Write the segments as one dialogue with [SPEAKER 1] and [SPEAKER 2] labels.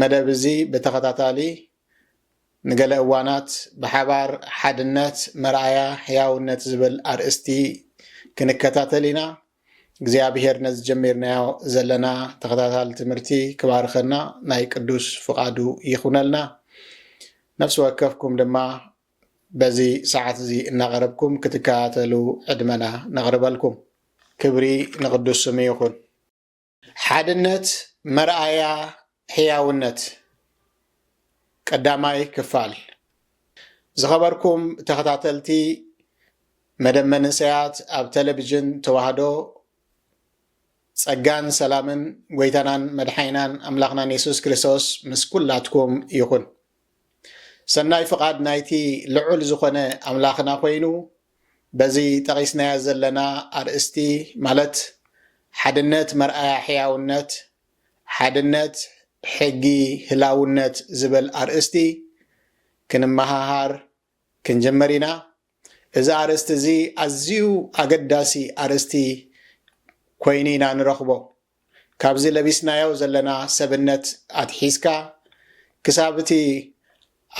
[SPEAKER 1] መደብ እዚ ብተኸታታሊ ንገለ እዋናት ብሓባር ሓድነት መርኣያ ሕያውነት ዝብል ኣርእስቲ ክንከታተል ኢና። እግዚኣብሔር ነዚ ጀሚርናዮ ዘለና ተኸታታሊ ትምህርቲ ክባርኸና ናይ ቅዱስ ፍቓዱ ይኹነልና። ነፍሲ ወከፍኩም ድማ በዚ ሰዓት እዚ እናቐረብኩም ክትከታተሉ ዕድመና ነቕርበልኩም። ክብሪ ንቕዱስ ስሙ ይኹን። ሓድነት መርኣያ ሕያውነት ቀዳማይ ክፋል ዝኸበርኩም ተኸታተልቲ መደብ መንእሰያት ኣብ ቴሌቪዥን ተዋህዶ ጸጋን ሰላምን ጎይታናን መድሓይናን ኣምላኽናን የሱስ ክርስቶስ ምስ ኩላትኩም ይኹን ሰናይ ፍቓድ ናይቲ ልዑል ዝኾነ ኣምላኽና ኮይኑ በዚ ጠቒስናያ ዘለና ኣርእስቲ ማለት ሓድነት መርኣያ ሕያውነት ሓድነት ሕጊ ህላውነት ዝበል ኣርእስቲ ክንመሃሃር ክንጅምር ኢና እዚ ኣርእስቲ እዚ ኣዝዩ ኣገዳሲ ኣርእስቲ ኮይኑ ኢና ንረኽቦ ካብዚ ለቢስናዮ ዘለና ሰብነት ኣትሒዝካ ክሳብ እቲ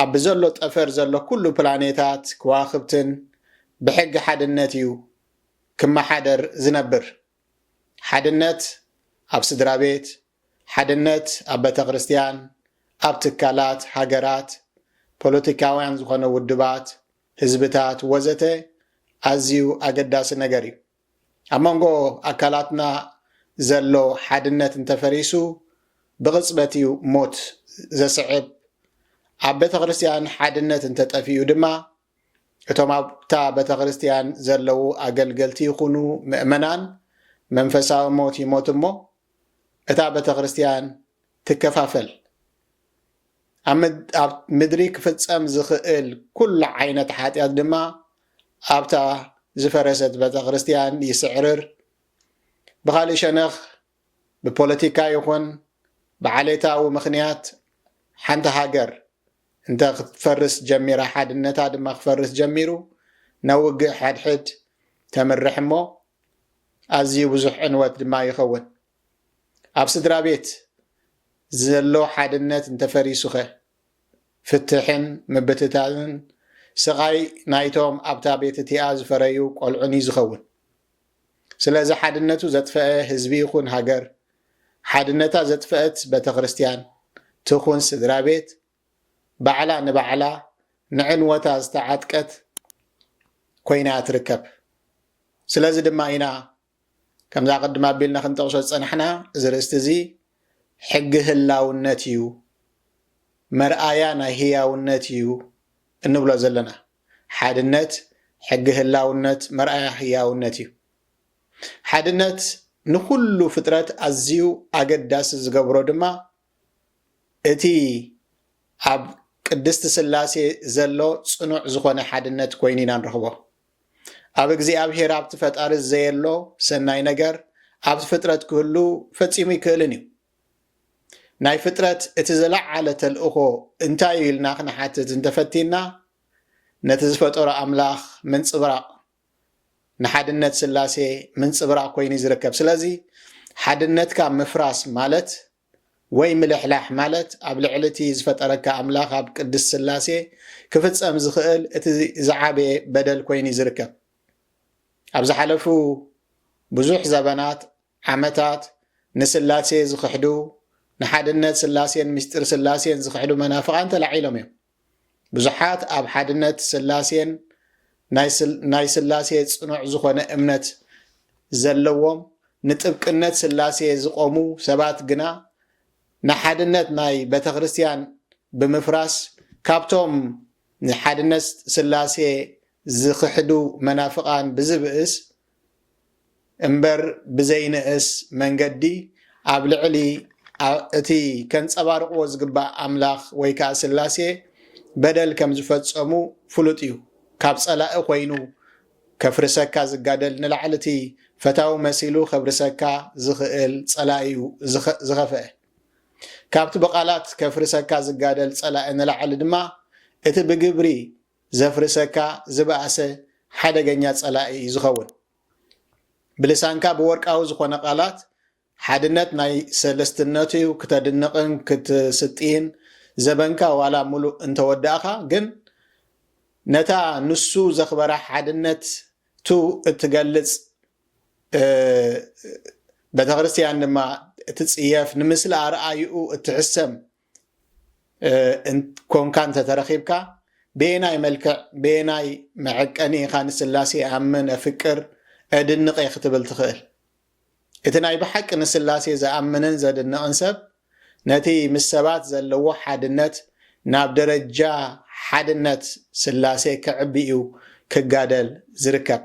[SPEAKER 1] ኣብ ብዘሎ ጠፈር ዘሎ ኩሉ ፕላኔታት ክዋኽብትን ብሕጊ ሓድነት እዩ ክመሓደር ዝነብር ሓድነት ኣብ ስድራቤት ሓድነት ኣብ ቤተክርስትያን፣ ኣብ ትካላት፣ ሃገራት፣ ፖለቲካውያን ዝኾነ ውድባት፣ ህዝብታት ወዘተ ኣዝዩ ኣገዳሲ ነገር እዩ። ኣብ መንጎ ኣካላትና ዘሎ ሓድነት እንተፈሪሱ ብቕጽበት እዩ ሞት ዘስዕብ። ኣብ ቤተክርስትያን ሓድነት እንተጠፊኡ ድማ እቶም ኣብታ ቤተክርስትያን ዘለዉ ኣገልገልቲ ይኹኑ ምእመናን መንፈሳዊ ሞት ይሞት እሞ እታ ቤተክርስትያን ትከፋፈል። ኣብ ምድሪ ክፍጸም ዝኽእል ኩሉ ዓይነት ሓጢኣት ድማ ኣብታ ዝፈረሰት ቤተክርስትያን ይስዕርር። ብኻልእ ሸነኽ ብፖለቲካ ይኹን ብዓሌታዊ ምኽንያት ሓንቲ ሃገር እንተ ክትፈርስ ጀሚራ ሓድነታ ድማ ክፈርስ ጀሚሩ ናብ ውግእ ሓድሕድ ተምርሕ እሞ ኣዝዩ ብዙሕ ዕንወት ድማ ይኸውን። ኣብ ስድራ ቤት ዘሎ ሓድነት እንተፈሪሱኸ ፍትሕን ምብትታንን ስቓይ ናይቶም ኣብታ ቤት እቲኣ ዝፈረዩ ቆልዑን'ዩ ዝኸውን። ስለዚ ሓድነቱ ዘጥፈአ ህዝቢ ይኹን ሃገር፣ ሓድነታ ዘጥፈእት በተክርስትያን ትኹን ስድራቤት፣ ባዕላ ንባዕላ ንዕንወታ ዝተዓጥቀት ኮይናያ ትርከብ። ስለዚ ድማ ኢና ከምዛ ቅድም ኣቢልና ክንጠቕሶ ዝጸናሕና እዚ ርእስቲ እዚ ሕጊ ህላውነት እዩ፣ መርኣያ ናይ ህያውነት እዩ እንብሎ ዘለና። ሓድነት ሕጊ ህላውነት መርኣያ ህያውነት እዩ። ሓድነት ንኹሉ ፍጥረት ኣዝዩ ኣገዳሲ ዝገብሮ ድማ እቲ ኣብ ቅድስቲ ስላሴ ዘሎ ጽኑዕ ዝኾነ ሓድነት ኮይኑ ኢና ንረኽቦ። ኣብ እግዚኣብሔር ኣብቲ ፈጣሪ ዘየሎ ሰናይ ነገር ኣብቲ ፍጥረት ክህሉ ፈጺሙ ኣይክእልን እዩ። ናይ ፍጥረት እቲ ዘለዓለ ተልእኾ እንታይ እዩ ኢልና ክንሓትት እንተፈቲና ነቲ ዝፈጠሮ ኣምላኽ ምንጽብራቕ ንሓድነት ስላሴ ምንጽብራቕ ኮይኑ እዩ ዝርከብ ስለዚ ሓድነትካ ምፍራስ ማለት ወይ ምልሕላሕ ማለት ኣብ ልዕሊ እቲ ዝፈጠረካ ኣምላኽ ኣብ ቅድስ ስላሴ ክፍጸም ዝኽእል እቲ ዝዓበየ በደል ኮይኑ እዩ ዝርከብ ኣብ ዝሓለፉ ብዙሕ ዘበናት ዓመታት ንስላሴ ዝኽሕዱ፣ ንሓድነት ስላሴን ምስጢር ስላሴን ዝኽሕዱ መናፍቓን ተላዒሎም እዮም። ብዙሓት ኣብ ሓድነት ስላሴን ናይ ስላሴ ጽኑዕ ዝኾነ እምነት ዘለዎም ንጥብቅነት ስላሴ ዝቆሙ ሰባት ግና ንሓድነት ናይ ቤተክርስትያን ብምፍራስ ካብቶም ንሓድነት ስላሴ ዝኽሕዱ መናፍቓን ብዝብእስ እምበር ብዘይንእስ መንገዲ ኣብ ልዕሊ እቲ ከንጸባርቕዎ ዝግባእ ኣምላኽ ወይ ከኣ ስላሴ በደል ከም ዝፈጸሙ ፍሉጥ እዩ። ካብ ጸላኢ ኮይኑ ከፍርሰካ ዝጋደል ንላዕሊ እቲ ፈታዊ መሲሉ ከብርሰካ ዝኽእል ጸላኢ እዩ ዝኸፍአ። ካብቲ ብቓላት ከፍርሰካ ዝጋደል ጸላኢ ንላዕሊ ድማ እቲ ብግብሪ ዘፍርሰካ ዝበኣሰ ሓደገኛ ጸላኢ እዩ ዝኸውን። ብልሳንካ ብወርቃዊ ዝኾነ ቃላት ሓድነት ናይ ሰለስትነት'ዩ ክተድንቕን ክትስጥይን ዘበንካ ዋላ ምሉእ እንተወዳእኻ ግን ነታ ንሱ ዘኽበራ ሓድነት ቱ እትገልጽ ቤተክርስትያን ድማ እትጽየፍ ንምስላ ኣርኣይኡ እትሕሰም ኮንካ እንተተረኺብካ በየናይ መልክዕ በየናይ መዐቀኒ ኢኻ ንስላሴ እኣምን እፍቅር እድንቐ ክትብል ትኽእል እቲ ናይ ብሓቂ ንስላሴ ዝኣምንን ዘድንቕን ሰብ ነቲ ምስ ሰባት ዘለዎ ሓድነት ናብ ደረጃ ሓድነት ስላሴ ክዕቢ እዩ ክጋደል ዝርከብ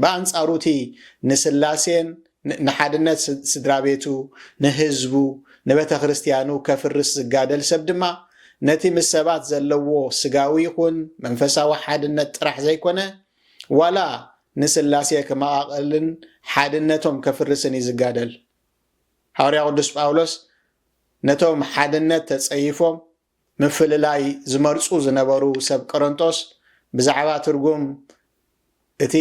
[SPEAKER 1] ብኣንጻሩ እቲ ንስላሴን ንሓድነት ስድራቤቱ፣ ንህዝቡ፣ ንበተክርስትያኑ ከፍርስ ዝጋደል ሰብ ድማ ነቲ ምስ ሰባት ዘለዎ ስጋዊ ይኹን መንፈሳዊ ሓድነት ጥራሕ ዘይኮነ ዋላ ንስላሴ ክመቓቕልን ሓድነቶም ከፍርስን እዩ ዝጋደል። ሃዋርያ ቅዱስ ጳውሎስ ነቶም ሓድነት ተጸይፎም ምፍልላይ ዝመርጹ ዝነበሩ ሰብ ቈረንቶስ፣ ብዛዕባ ትርጕም እቲ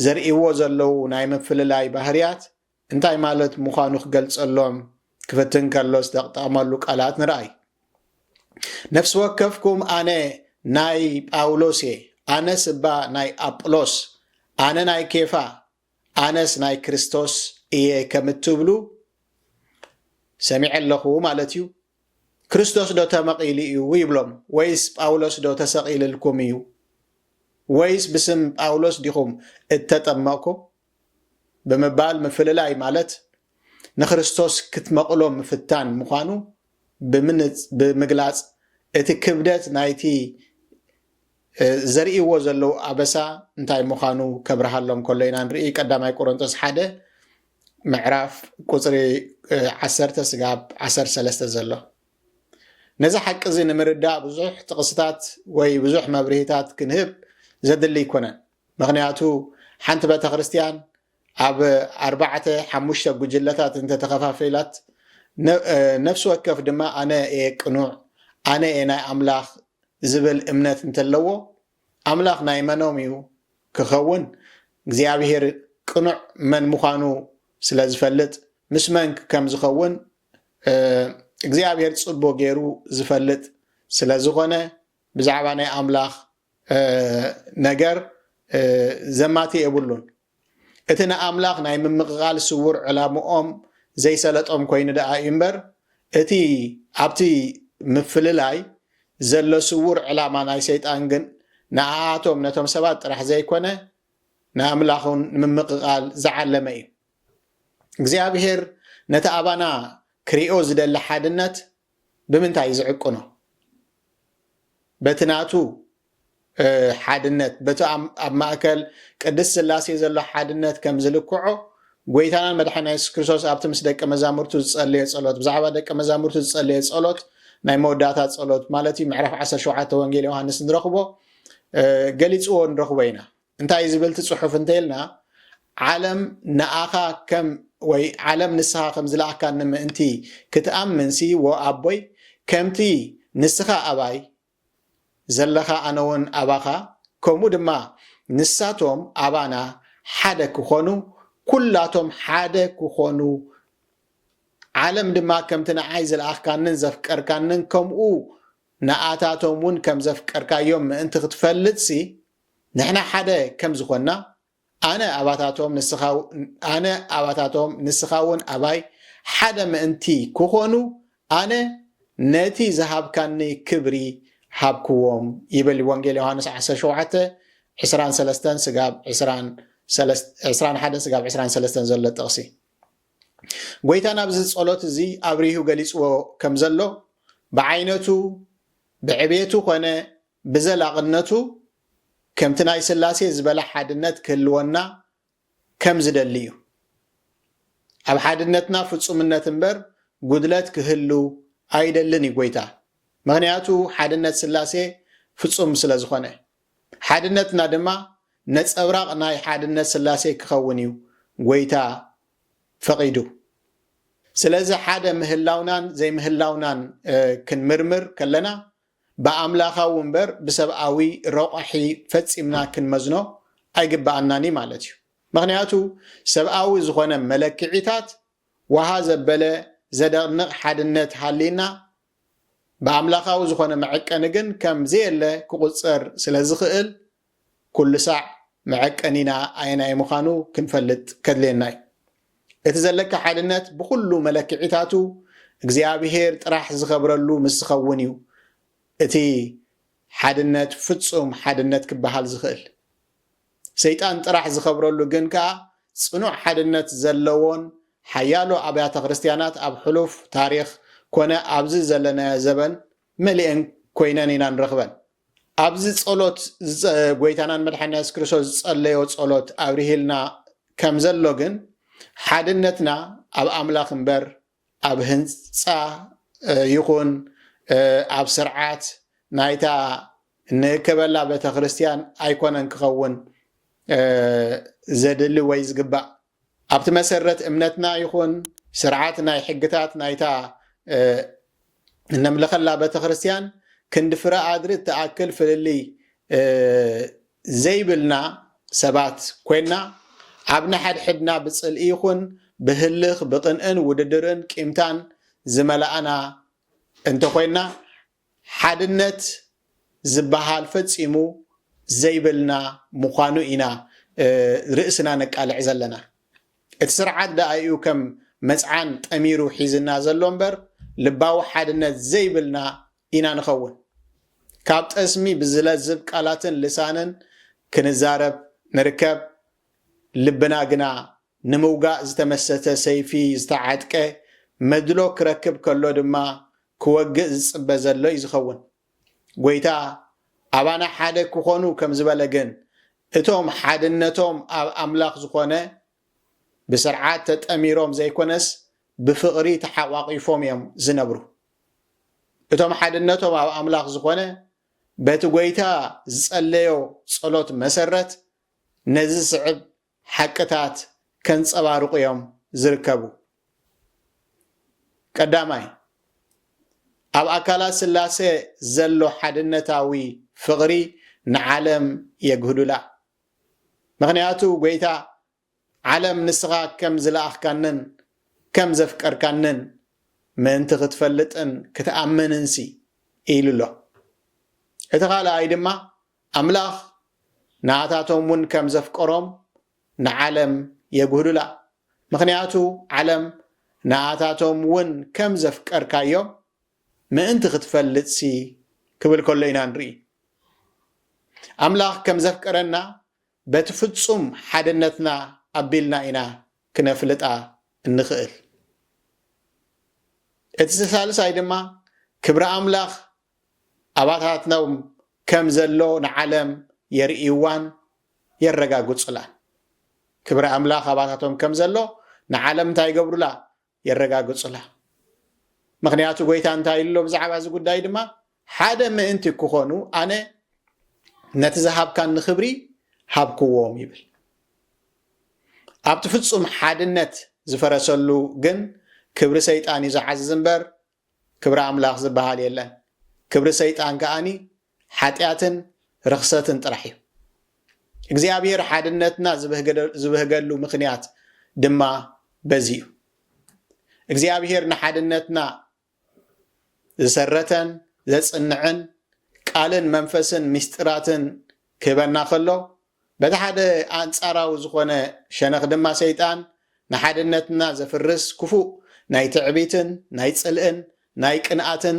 [SPEAKER 1] ዘርእይዎ ዘለዉ ናይ ምፍልላይ ባህርያት እንታይ ማለት ምዃኑ ኺገልጸሎም ኪፍትን ከሎ ዝተጠቕመሉ ቃላት ንርኣይ። ነፍሲ ወከፍኩም ኣነ ናይ ጳውሎስ እየ፣ ኣነስ እባ ናይ ኣጵሎስ፣ ኣነ ናይ ኬፋ፣ ኣነስ ናይ ክርስቶስ እየ ከም እትብሉ ሰሚዐ ኣለኹ ማለት እዩ። ክርስቶስ ዶ ተመቒሉ እዩ ይብሎም? ወይስ ጳውሎስ ዶ ተሰቒልልኩም እዩ? ወይስ ብስም ጳውሎስ ዲኹም እተጠመቕኩም? ብምባል ምፍልላይ ማለት ንክርስቶስ ክትመቕሎ ምፍታን ምዃኑ ብምግላጽ እቲ ክብደት ናይቲ ዘርእይዎ ዘለዉ ኣበሳ እንታይ ምዃኑ ከብርሃሎም ከሎ ኢና ንርኢ። ቀዳማይ ቆሮንቶስ ሓደ ምዕራፍ ቁፅሪ ዓሰርተ ስጋብ ዓሰርተ ሰለስተ ዘሎ ነዚ ሓቂ እዚ ንምርዳእ ብዙሕ ጥቕስታት ወይ ብዙሕ መብርሂታት ክንህብ ዘድሊ ኣይኮነን። ምክንያቱ ሓንቲ ቤተ ክርስትያን ኣብ ኣርባዕተ ሓሙሽተ ጉጅለታት እንተ ተኸፋፊላት፣ ነፍሲ ወከፍ ድማ ኣነ እየ ቅኑዕ፣ ኣነ እየ ናይ ኣምላኽ ዝብል እምነት እንተለዎ፣ ኣምላኽ ናይ መኖም እዩ ክኸውን? እግዚኣብሄር ቅኑዕ መን ምዃኑ ስለ ዝፈልጥ፣ ምስ መን ከም ዝኸውን እግዚኣብሄር ጽቡቕ ገይሩ ዝፈልጥ ስለ ዝኾነ፣ ብዛዕባ ናይ ኣምላኽ ነገር ዘማትእ የብሉን። እቲ ንኣምላኽ ናይ ምምቕቓል ስዉር ዕላምኦም ዘይሰለጦም ኰይኑ ደኣ እዩ እምበር፣ እቲ ኣብቲ ምፍልላይ ዘሎ ስዉር ዕላማ ናይ ሰይጣን ግን ንኣኣቶም ነቶም ሰባት ጥራሕ ዘይኰነ ንኣምላኽውን ንምምቕቓል ዝዓለመ እዩ። እግዚኣብሄር ነቲ ኣባና ክሪኦ ዝደሊ ሓድነት ብምንታይ እዩ ዝዕቅኖ? በቲ ናቱ ሓድነት፣ በቲ ኣብ ማእከል ቅድስት ሥላሴ ዘሎ ሓድነት ከም ዝልክዖ፣ ጐይታናን መድሓኒና የሱስ ክርስቶስ ኣብቲ ምስ ደቀ መዛሙርቱ ዝጸለዮ ጸሎት፣ ብዛዕባ ደቀ መዛሙርቱ ዝጸለዮ ጸሎት፣ ናይ መወዳእታ ጸሎት ማለት እዩ፣ ምዕራፍ ዓሰርተ ሸውዓተ ወንጌል ዮሃንስ ንረኽቦ፣ ገሊጽዎ ንረኽቦ ኢና። እንታይ እዩ ዝብል እቲ ጽሑፍ እንተ ኢልና፣ ዓለም ንኣኻ ከም ወይ ዓለም ንስኻ ከም ዝለኣካኒ ምእንቲ ክትኣምንሲ ወኣቦይ ከምቲ ንስኻ ኣባይ ዘለኻ ኣነውን ኣባኻ ከምኡ ድማ ንሳቶም ኣባና ሓደ ክኾኑ ኩላቶም ሓደ ክኾኑ ዓለም ድማ ከምቲ ንዓይ ዝለኣኽካንን ዘፍቀርካንን ከምኡ ንኣታቶምውን ከም ዘፍቀርካዮም ምእንቲ ክትፈልጥሲ ንሕና ሓደ ከም ዝኾንና ኣነ ኣባታቶም ንስኻ ኣነ ኣባታቶም ንስኻ እውን ኣባይ ሓደ ምእንቲ ክኾኑ ኣነ ነቲ ዝሃብካኒ ክብሪ ሃብክዎም ይብል ወንጌል ዮሃንስ 17 ዕስራን ሰለስተን ስጋብ ዕስራን ዕስራን ሓደን ስጋብ ዕስራን ሰለስተን ዘሎ ጥቕሲ ጎይታ ናብዚ ጸሎት እዚ ኣብሪሁ ገሊጽዎ ከም ዘሎ ብዓይነቱ ብዕቤቱ ኮነ ብዘላቕነቱ ከምቲ ናይ ስላሴ ዝበለ ሓድነት ክህልወና ከም ዝደሊ እዩ። ኣብ ሓድነትና ፍጹምነት እምበር ጉድለት ክህሉ ኣይደልን እዩ ጐይታ። ምኽንያቱ ሓድነት ስላሴ ፍጹም ስለ ዝኾነ። ሓድነትና ድማ ነጸብራቕ ናይ ሓድነት ስላሴ ክኸውን እዩ ጐይታ ፈቒዱ። ስለዚ ሓደ ምህላውናን ዘይምህላውናን ክንምርምር ከለና ብኣምላኻዊ እምበር ብሰብኣዊ ረቋሒ ፈጺምና ክንመዝኖ ኣይግብኣናን እዩ ማለት እዩ። ምኽንያቱ ሰብኣዊ ዝኾነ መለክዒታት ወሃ ዘበለ ዘደቕንቕ ሓድነት ሃልይና ብኣምላኻዊ ዝኾነ መዐቀኒ ግን ከም ዘየለ ክቑጸር ስለ ዝኽእል ኩሉ ሳዕ መዐቀኒና ኣየናይ ምዃኑ ክንፈልጥ ከድልየና እዩ። እቲ ዘለካ ሓድነት ብኹሉ መለክዒታቱ እግዚኣብሄር ጥራሕ ዝኸብረሉ ምስ ዝኸውን እዩ እቲ ሓድነት ፍጹም ሓድነት ክበሃል ዝኽእል። ሰይጣን ጥራሕ ዝኸብረሉ ግን ከኣ ጽኑዕ ሓድነት ዘለዎን ሓያሎ ኣብያተ ክርስትያናት ኣብ ሕሉፍ ታሪኽ ኮነ ኣብዚ ዘለናዮ ዘበን መሊኤን ኮይነን ኢና ንረኽበን። ኣብዚ ጸሎት ጎይታናን መድሓኒና የሱስ ክርስቶስ ዝጸለዮ ጸሎት ኣብርሂልና ከም ዘሎ ግን ሓድነትና ኣብ ኣምላኽ እምበር ኣብ ህንጻ ይኹን ኣብ ስርዓት ናይታ ንእከበላ ቤተክርስትያን ኣይኮነን ክኸውን ዘድሊ ወይ ዝግባእ። ኣብቲ መሰረት እምነትና ይኹን ስርዓት ናይ ሕግታት ናይታ እነምልኸላ ቤተክርስትያን ክንዲ ፍረ ኣድሪ እትኣክል ፍልልይ ዘይብልና ሰባት ኮይንና ኣብ ነሐድሕድና ብጽልኢ ይኹን ብህልኽ፣ ብቅንእን ውድድርን ቂምታን ዝመላእና እንተኾይንና ሓድነት ዝበሃል ፈጺሙ ዘይብልና ምዃኑ ኢና ርእስና ነቃልዕ ዘለና። እቲ ስርዓት ደኣ'ዩ ከም መጽዓን ጠሚሩ ሒዝና ዘሎ እምበር ልባዊ ሓድነት ዘይብልና ኢና ንኸውን። ካብ ጠስሚ ብዝለዝብ ቃላትን ልሳንን ክንዛረብ ንርከብ፣ ልብና ግና ንምውጋእ ዝተመሰተ ሰይፊ ዝተዓጥቀ መድሎ ክረክብ ከሎ ድማ ክወግእ ዝጽበ ዘሎ እዩ ዝኸውን። ጎይታ ኣባና ሓደ ክኾኑ ከም ዝበለ ግን እቶም ሓድነቶም ኣብ ኣምላኽ ዝኾነ ብስርዓት ተጠሚሮም ዘይኮነስ ብፍቕሪ ተሓቋቒፎም እዮም ዝነብሩ። እቶም ሓድነቶም ኣብ ኣምላኽ ዝኾነ በቲ ጎይታ ዝጸለዮ ጸሎት መሰረት ነዚ ዝስዕብ ሓቅታት ከንጸባርቑ እዮም ዝርከቡ። ቀዳማይ፣ ኣብ ኣካላት ስላሰ ዘሎ ሓድነታዊ ፍቕሪ ንዓለም የግህዱላ። ምኽንያቱ ጐይታ ዓለም ንስኻ ከም ዝለኣኽካንን ከም ዘፍቀርካንን ምእንቲ ክትፈልጥን ክትኣምንንሲ ኢሉ'ሎ። እቲ ካልኣይ ድማ ኣምላኽ ንኣታቶም እውን ከም ዘፍቀሮም ንዓለም የጕህሉላ፣ ምኽንያቱ ዓለም ንኣታቶም እውን ከም ዘፍቀርካዮም ምእንቲ ኽትፈልጥሲ ክብል ከሎ ኢና ንርኢ። ኣምላኽ ከም ዘፍቀረና በቲ ፍጹም ሓድነትና ኣቢልና ኢና ክነፍልጣ እንኽእል። እቲ ሳልሳይ ድማ ክብሪ ኣምላኽ ኣባታትኖም ከም ዘሎ ንዓለም የርእይዋን የረጋግጹላን። ክብሪ ኣምላኽ ኣባታቶም ከም ዘሎ ንዓለም እንታይ ይገብሩላ? የረጋግጹላ። ምኽንያቱ ጎይታ እንታይ ኢሉ ኣሎ ብዛዕባ እዚ ጉዳይ ድማ ሓደ ምእንቲ ክኾኑ ኣነ ነቲ ዝሃብካኒ ክብሪ ሃብክዎም ይብል። ኣብቲ ፍጹም ሓድነት ዝፈረሰሉ ግን ክብሪ ሰይጣን እዩ ዝዓዝዝ እምበር ክብሪ ኣምላኽ ዝበሃል የለን ክብሪ ሰይጣን ከኣኒ ሓጢኣትን ርኽሰትን ጥራሕ እዩ እግዚኣብሔር ሓድነትና ዝበህገሉ ምኽንያት ድማ በዚ እዩ እግዚኣብሔር ንሓድነትና ዝሰረተን ዘጽንዕን ቃልን መንፈስን ምስጢራትን ክህበና ከሎ በቲ ሓደ ኣንጻራዊ ዝኾነ ሸነኽ ድማ ሰይጣን ንሓድነትና ዘፍርስ ክፉእ ናይ ትዕቢትን ናይ ጽልእን ናይ ቅንኣትን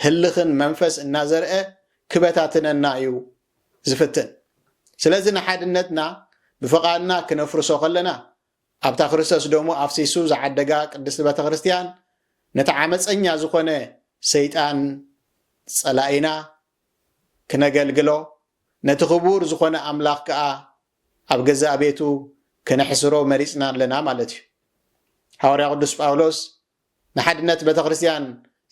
[SPEAKER 1] ህልኽን መንፈስ እናዘርኣ ክበታትነና እዩ ዝፍትን። ስለዚ ንሓድነትና ብፍቓድና ክነፍርሶ ከለና ኣብታ ክርስቶስ ደሙ ኣፍሲሱ ዝዓደጋ ቅድስቲ ቤተ ክርስቲያን ነቲ ዓመጸኛ ዝኾነ ሰይጣን ጸላኢና ክነገልግሎ፣ ነቲ ክቡር ዝዀነ ኣምላኽ ከኣ ኣብ ገዛእ ቤቱ ከነሕስሮ መሪጽና ኣለና ማለት እዩ። ሃዋርያ ቅዱስ ጳውሎስ ንሓድነት ቤተ ክርስትያን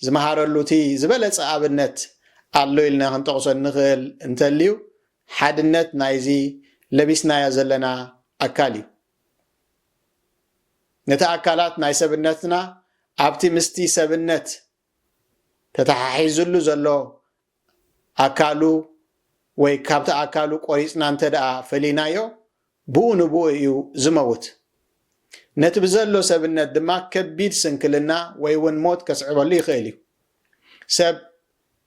[SPEAKER 1] ዝመሃረሉ እቲ ዝበለጸ ኣብነት ኣሎ ኢልና ክንጠቕሶ እንኽእል እንተልዩ ሓድነት ናይዚ ለቢስናዮ ዘለና ኣካል እዩ። ነቲ ኣካላት ናይ ሰብነትና ኣብቲ ምስቲ ሰብነት ተተሓሒዙሉ ዘሎ ኣካሉ ወይ ካብቲ ኣካሉ ቆሪፅና እንተድኣ ፈሊናዮ ብኡ ንብኡ እዩ ዝመውት። ነቲ ብዘሎ ሰብነት ድማ ከቢድ ስንክልና ወይ እውን ሞት ከስዕበሉ ይኽእል እዩ። ሰብ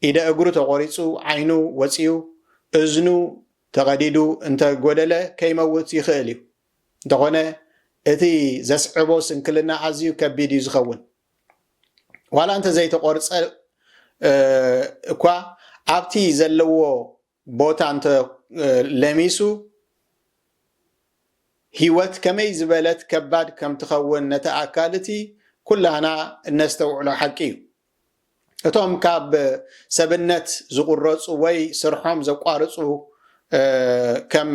[SPEAKER 1] ኢደ እግሩ ተቖሪፁ፣ ዓይኑ ወፂኡ፣ እዝኑ ተቐዲዱ እንተጎደለ ከይመውት ይኽእል እዩ። እንተኾነ እቲ ዘስዕቦ ስንክልና ኣዝዩ ከቢድ እዩ ዝኸውን። ዋላ እንተዘይተቆርፀ እኳ ኣብቲ ዘለዎ ቦታ እንተ ለሚሱ ህይወት ከመይ ዝበለት ከባድ ከም ትኸውን ነቲ ኣካል እቲ ኩላና እነስተውዕሎ ሓቂ እዩ። እቶም ካብ ሰብነት ዝቑረፁ ወይ ስርሖም ዘቋርፁ ከም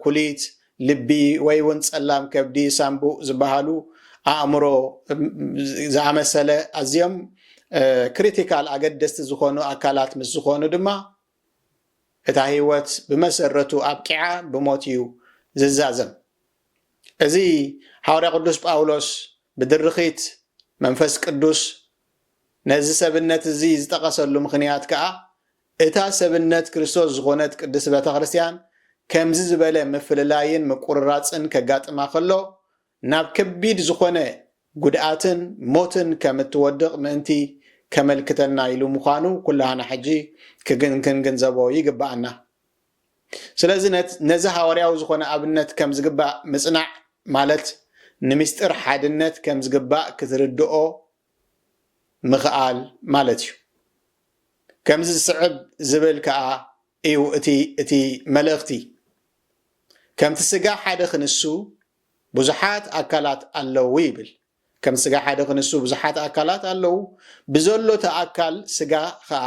[SPEAKER 1] ኩሊት፣ ልቢ ወይ እውን ፀላም ከብዲ፣ ሳምቡእ፣ ዝበሃሉ ኣእምሮ ዝኣመሰለ ኣዝዮም ክሪቲካል፣ ኣገደስቲ፣ ዝኾኑ ኣካላት ምስ ዝኾኑ ድማ እታ ህይወት ብመሰረቱ ኣብቂዓ ብሞት እዩ ዝዛዘም። እዚ ሓዋርያ ቅዱስ ጳውሎስ ብድርኺት መንፈስ ቅዱስ ነዚ ሰብነት እዚ ዝጠቐሰሉ ምኽንያት ከኣ እታ ሰብነት ክርስቶስ ዝኾነት ቅድስት ቤተ ክርስቲያን ከምዚ ዝበለ ምፍልላይን ምቁርራጽን ከጋጥማ ከሎ ናብ ከቢድ ዝኾነ ጉድኣትን ሞትን ከም እትወድቕ ምእንቲ ከመልክተና ኢሉ ምዃኑ ኩላህና ሕጂ ክንግንዘቦ ይግብኣና። ስለዚ ነዚ ሃዋርያዊ ዝኾነ ኣብነት ከም ዝግባእ ምጽናዕ ማለት ንምስጢር ሓድነት ከም ዝግባእ ክትርድኦ ምኽኣል ማለት እዩ። ከምዚ ዝስዕብ ዝብል ከኣ እዩ እቲ እቲ መልእኽቲ ከምቲ ስጋ ሓደ ክንሱ ብዙሓት ኣካላት ኣለዉ ይብል። ከም ስጋ ሓደ ክንሱ ብዙሓት ኣካላት ኣለዉ፣ ብዘሎ እቲ ኣካል ስጋ ኸኣ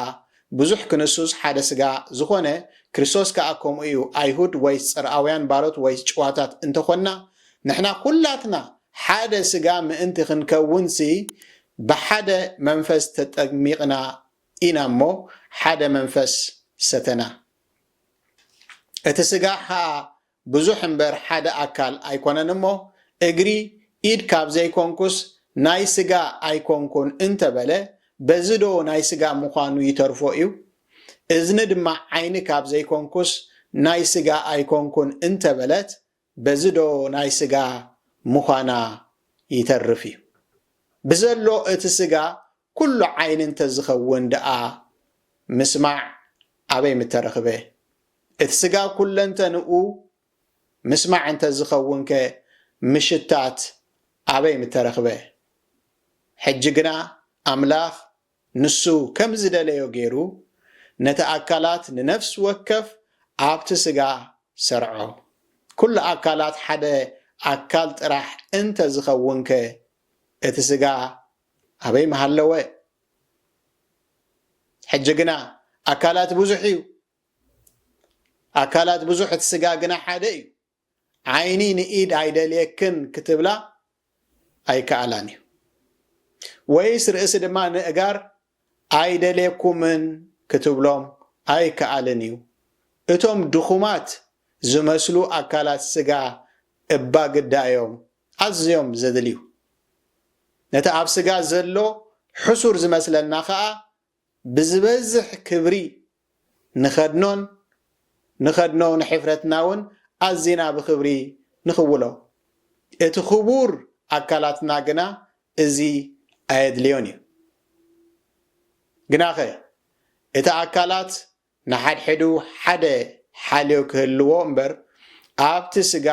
[SPEAKER 1] ብዙሕ ክንሱስ ሓደ ስጋ ዝኾነ፣ ክርስቶስ ከኣ ከምኡ እዩ፣ ኣይሁድ ወይስ ጽርኣውያን ባሮት ወይስ ጭዋታት እንተ ኾንና ንሕና ኩላትና ሓደ ስጋ ምእንቲ ክንከውንሲ ብሓደ መንፈስ ተጠሚቕና ኢና እሞ ሓደ መንፈስ ሰተና እቲ ስጋ ኸኣ ብዙሕ እምበር ሓደ ኣካል ኣይኮነን እሞ እግሪ ኢድ ካብ ዘይኮንኩስ ናይ ስጋ ኣይኮንኩን እንተበለ በዚ ዶ ናይ ስጋ ምዃኑ ይተርፎ እዩ? እዝኒ ድማ ዓይኒ ካብ ዘይኮንኩስ ናይ ስጋ ኣይኮንኩን እንተበለት በዚ ዶ ናይ ስጋ ምዃና ይተርፍ እዩ? ብዘሎ እቲ ስጋ ኩሉ ዓይኒ እንተዝኸውን ድኣ ምስማዕ ኣበይ ምተረኽበ? እቲ ስጋ ኩለንተንኡ ምስማዕ እንተዝኸውንከ ምሽታት ኣበይ ምተረኽበ? ሕጂ ግና ኣምላኽ ንሱ ከም ዝደለዮ ገይሩ ነቲ ኣካላት ንነፍሲ ወከፍ ኣብቲ ስጋ ሰርዖ። ኩሉ ኣካላት ሓደ ኣካል ጥራሕ እንተዝኸውንከ እቲ ስጋ ኣበይ ምሃለወ ሕጂ ግና ኣካላት ብዙሕ እዩ ኣካላት ብዙሕ እቲ ስጋ ግና ሓደ እዩ ዓይኒ ንኢድ ኣይደልየክን ክትብላ ኣይከኣላን እዩ ወይስ ርእሲ ድማ ንእጋር ኣይደልየኩምን ክትብሎም ኣይከኣልን እዩ እቶም ድኹማት ዝመስሉ ኣካላት ስጋ እባ ግዳ እዮም ኣዝዮም ዘድልዩ፣ ነቲ ኣብ ስጋ ዘሎ ሕሱር ዝመስለና ከኣ ብዝበዝሕ ክብሪ ንኸድኖን ንኸድኖ ንሕፍረትና ውን ኣዚና ብኽብሪ ንኽውሎ። እቲ ክቡር ኣካላትና ግና እዚ ኣየድልዮን እዩ። ግናኸ እቲ ኣካላት ንሓድሕዱ ሓደ ሓልዮ ክህልዎ እምበር ኣብቲ ስጋ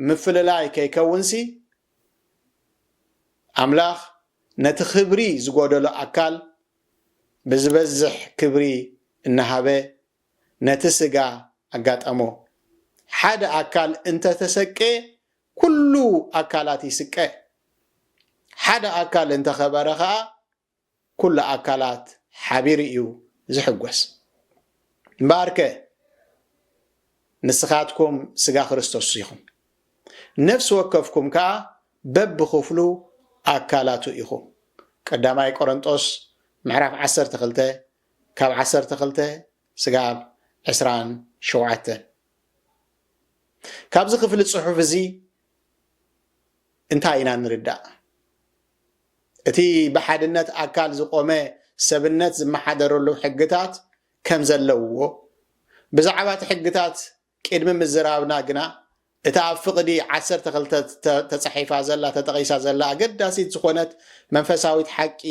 [SPEAKER 1] ምፍልላይ ከይከውንሲ ኣምላኽ ነቲ ክብሪ ዝጎደሎ ኣካል ብዝበዝሕ ክብሪ እናሃበ ነቲ ስጋ ኣጋጠሞ። ሓደ ኣካል እንተተሰቅየ ኩሉ ኣካላት ይስቀ። ሓደ ኣካል እንተኸበረ ከኣ ኩሉ ኣካላት ሓቢሩ እዩ ዝሕጎስ። እምበኣርከ ንስኻትኩም ስጋ ክርስቶስ ኢኹም፣ ነፍሲ ወከፍኩም ከኣ በብኽፍሉ ኣካላቱ ኢኹም። ቀዳማይ ቆረንጦስ ምዕራፍ ዓሰርተ ክልተ ካብ ዓሰርተ ክልተ ስጋብ ዕስራን ሸውዓተን ካብዚ ክፍሊ ጽሑፍ እዚ እንታይ ኢና ንርዳእ? እቲ ብሓድነት ኣካል ዝቖመ ሰብነት ዝመሓደረሉ ሕግታት ከም ዘለዉዎ፣ ብዛዕባ እቲ ሕግታት ቂድሚ ምዝራብና ግና እታ ኣብ ፍቕዲ ዓሰርተ ክልተ ተጻሒፋ ዘላ ተጠቒሳ ዘላ ኣገዳሲት ዝኾነት መንፈሳዊት ሓቂ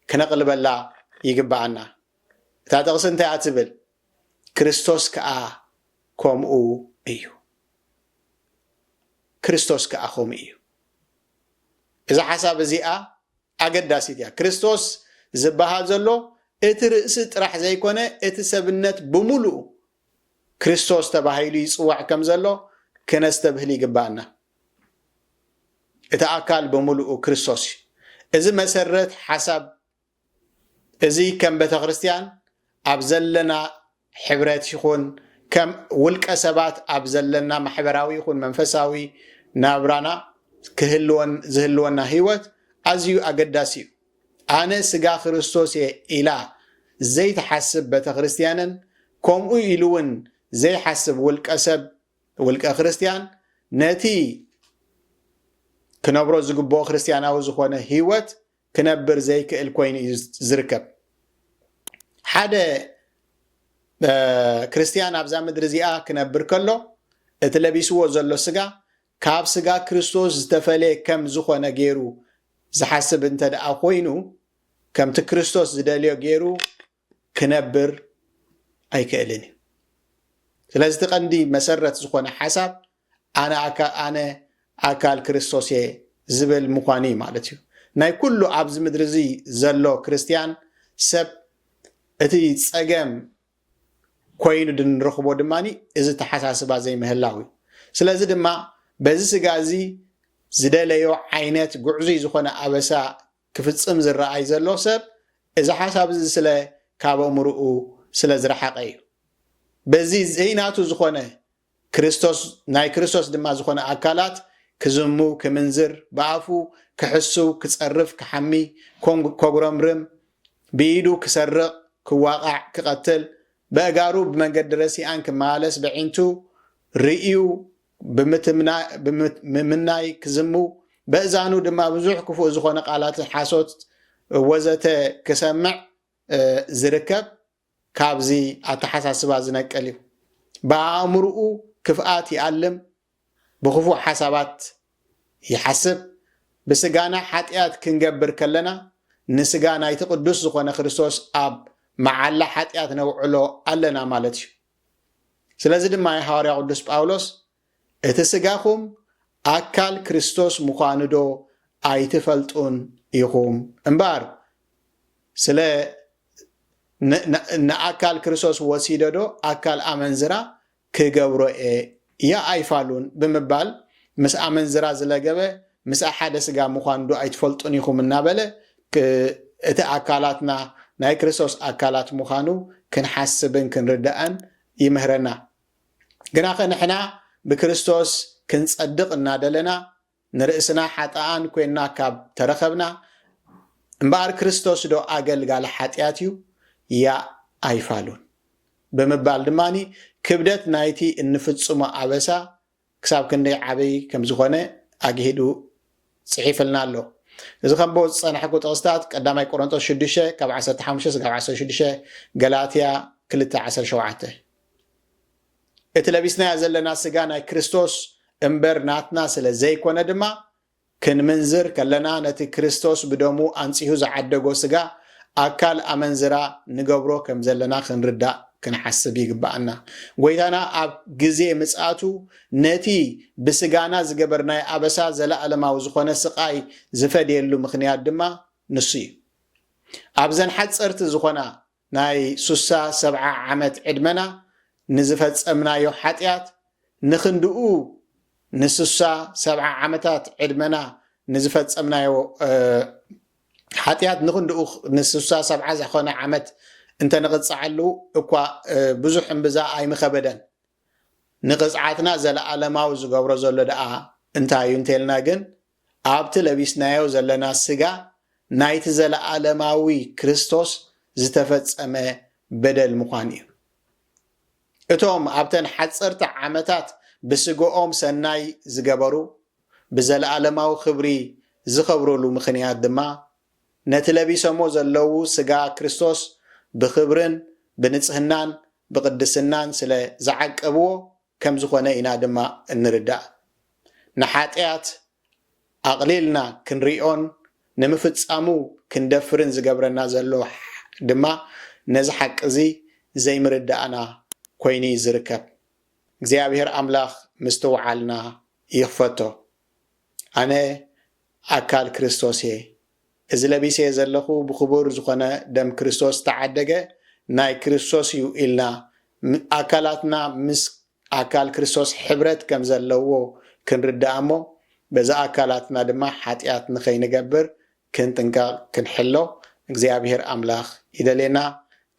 [SPEAKER 1] ክነቕልበላ ይግብኣና። እታ ጥቕሲ እንታይ እያ ትብል? ክርስቶስ ከኣ ከምኡ እዩ። ክርስቶስ ከኣ ከምኡ እዩ። እዛ ሓሳብ እዚኣ ኣገዳሲት እያ። ክርስቶስ ዝበሃል ዘሎ እቲ ርእሲ ጥራሕ ዘይኮነ እቲ ሰብነት ብምሉኡ ክርስቶስ ተባሂሉ ይጽዋዕ ከም ዘሎ ክነስተብህል ይግብኣና። እቲ ኣካል ብምሉኡ ክርስቶስ እዩ። እዚ መሰረት ሓሳብ እዚ ከም ቤተክርስትያን ኣብ ዘለና ሕብረት ይኹን ከም ውልቀ ሰባት ኣብ ዘለና ማሕበራዊ ይኹን መንፈሳዊ ናብራና ክህልወን ዝህልወና ህይወት ኣዝዩ ኣገዳሲ እዩ። ኣነ ስጋ ክርስቶስ እየ ኢላ ዘይትሓስብ ቤተክርስትያንን ከምኡ ኢሉ እውን ዘይሓስብ ውልቀ ሰብ ውልቀ ክርስትያን ነቲ ክነብሮ ዝግብኦ ክርስትያናዊ ዝኾነ ህይወት ክነብር ዘይክእል ኮይኑ እዩ ዝርከብ። ሓደ ክርስትያን ኣብዛ ምድሪ እዚኣ ክነብር ከሎ እቲ ለቢስዎ ዘሎ ስጋ ካብ ስጋ ክርስቶስ ዝተፈለየ ከም ዝኾነ ገይሩ ዝሓስብ እንተ ደኣ ኮይኑ ከምቲ ክርስቶስ ዝደልዮ ገይሩ ክነብር ኣይክእልን እዩ። ስለዚ እቲ ቀንዲ መሰረት ዝኾነ ሓሳብ ኣነ ኣነ ኣካል ክርስቶስ እየ ዝብል ምዃኑ እዩ ማለት እዩ። ናይ ኩሉ ኣብዚ ምድሪ እዚ ዘሎ ክርስትያን ሰብ እቲ ጸገም ኮይኑ ድንረኽቦ ድማ እዚ ተሓሳስባ ዘይምህላው እዩ ስለዚ ድማ በዚ ስጋ እዚ ዝደለዮ ዓይነት ጉዕዙይ ዝኾነ ኣበሳ ክፍጽም ዝረኣይ ዘሎ ሰብ እዚ ሓሳብ እዚ ስለ ካብ ኣእምርኡ ስለ ዝረሓቐ እዩ። በዚ ዘይናቱ ዝኾነ ክርስቶስ ናይ ክርስቶስ ድማ ዝኾነ ኣካላት ክዝሙ፣ ክምንዝር፣ ብኣፉ ክሕስው፣ ክጸርፍ፣ ክሓሚ፣ ኮንግ ኮጉረምርም፣ ብኢዱ ክሰርቕ፣ ክዋቓዕ፣ ክቐትል፣ በእጋሩ ብመንገዲ ረሲኣን ክመላለስ በዒንቱ ርእዩ ብምምናይ ክዝሙ፣ በእዛኑ ድማ ብዙሕ ክፉእ ዝኾነ ቃላት ሓሶት ወዘተ ክሰምዕ ዝርከብ ካብዚ ኣተሓሳስባ ዝነቅል እዩ። ብኣእምርኡ ክፍኣት ይኣልም፣ ብክፉእ ሓሳባት ይሓስብ። ብስጋና ሓጥያት ክንገብር ከለና ንስጋ ናይቲ ቅዱስ ዝኾነ ክርስቶስ ኣብ መዓላ ሓጥያት ነውዕሎ ኣለና ማለት እዩ። ስለዚ ድማ እዩ ሓዋርያ ቅዱስ ጳውሎስ እቲ ስጋኹም ኣካል ክርስቶስ ምዃኑዶ ኣይትፈልጡን ኢኹም እምበኣር ስለ ንኣካል ክርስቶስ ወሲደዶ ኣካል ኣመንዝራ ክገብሮ እየ እያ ኣይፋሉን ብምባል ምስ ኣመንዝራ ዝለገበ ምስኣ ሓደ ስጋ ምዃንዶ ኣይትፈልጡን ኢኹም እናበለ እቲ ኣካላትና ናይ ክርስቶስ ኣካላት ምዃኑ ክንሓስብን ክንርዳእን ይምህረና። ግናኸ ንሕና ብክርስቶስ ክንጸድቕ እናደለና ንርእስና ሓጥኣን ኰይንና ካብ ተረኸብና እምበኣር ክርስቶስዶ ኣገልጋሊ ሓጢኣት እዩ? ያእ ኣይፋሉን። ብምባል ድማ ክብደት ናይቲ እንፍጽሞ ኣበሳ ክሳብ ክንደይ ዓቢይ ከም ዝዀነ ኣግሂዱ ጽሒፍልና ኣሎ። እዚ ከንብቦ ዝጸናሕኩ ጥቕስታት ቀዳማይ ቆሮንጦስ ሽዱሽተ ካብ ዓሰርተ ሓሙሽተ ስጋብ ዓሰርተ ሽዱሽተ ገላትያ ክልተ ዓሰርተ ሸውዓተ እቲ ለቢስናዮ ዘለና ስጋ ናይ ክርስቶስ እምበር ናትና ስለ ዘይኮነ ድማ ክንምንዝር ከለና ነቲ ክርስቶስ ብደሙ ኣንጺሁ ዝዓደጎ ስጋ ኣካል ኣመንዝራ ንገብሮ ከም ዘለና ክንርዳእ ክንሓስብ ይግብኣና። ጎይታና ኣብ ግዜ ምጽኣቱ ነቲ ብስጋና ዝገበርናዮ ኣበሳ ዘለኣለማዊ ዝኾነ ስቓይ ዝፈድየሉ ምኽንያት ድማ ንሱ እዩ። ኣብዘን ሓጸርቲ ዝኾና ናይ ሱሳ ሰብዓ ዓመት ዕድመና ንዝፈጸምናዮ ሓጥያት ንክንድኡ ንሱሳ ሰብዓ ዓመታት ዕድመና ንዝፈጸምናዮ ሓጥያት ንክንድኡ ንሱሳ ሰብዓ ዝኮነ ዓመት እንተ ንቅጻዓሉ እኳ ብዙሕ እምብዛ ኣይምከበደን ንቅጽዓትና ዘለኣለማዊ ዝገብሮ ዘሎ ደኣ እንታይ እዩ እንተልና ግን ኣብቲ ለቢስናዮ ዘለና ስጋ ናይቲ ዘለኣለማዊ ክርስቶስ ዝተፈጸመ በደል ምዃን እዩ። እቶም ኣብተን ሓጸርቲ ዓመታት ብስግኦም ሰናይ ዝገበሩ ብዘለኣለማዊ ክብሪ ዝኸብሩሉ ምኽንያት ድማ ነቲ ለቢሰሞ ዘለዉ ስጋ ክርስቶስ ብኽብርን ብንጽህናን ብቕድስናን ስለ ዝዓቀብዎ ከም ዝኾነ ኢና ድማ እንርዳእ። ንሓጥያት ኣቕሊልና ክንሪኦን ንምፍጻሙ ክንደፍርን ዝገብረና ዘሎ ድማ ነዚ ሓቂ እዚ ዘይምርዳእና ኮይኑ እዩ ዝርከብ። እግዚኣብሔር ኣምላኽ ምስትውዓልና ይኽፈቶ። ኣነ ኣካል ክርስቶስ እየ። እዚ ለቢሰዮ ዘለኹ ብኽቡር ዝኾነ ደም ክርስቶስ ዝተዓደገ ናይ ክርስቶስ እዩ ኢልና ኣካላትና ምስ ኣካል ክርስቶስ ሕብረት ከም ዘለዎ ክንርዳእ እሞ በዚ ኣካላትና ድማ ሓጢኣት ንኸይንገብር ክንጥንቀቕ ክንሕሎ እግዚኣብሔር ኣምላኽ ይደልየና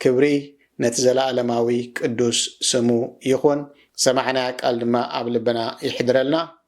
[SPEAKER 1] ክብሪ ነቲ ዘለኣለማዊ ቅዱስ ስሙ ይኹን ዝሰማዕናያ ቃል ድማ ኣብ ልብና ይሕድረልና።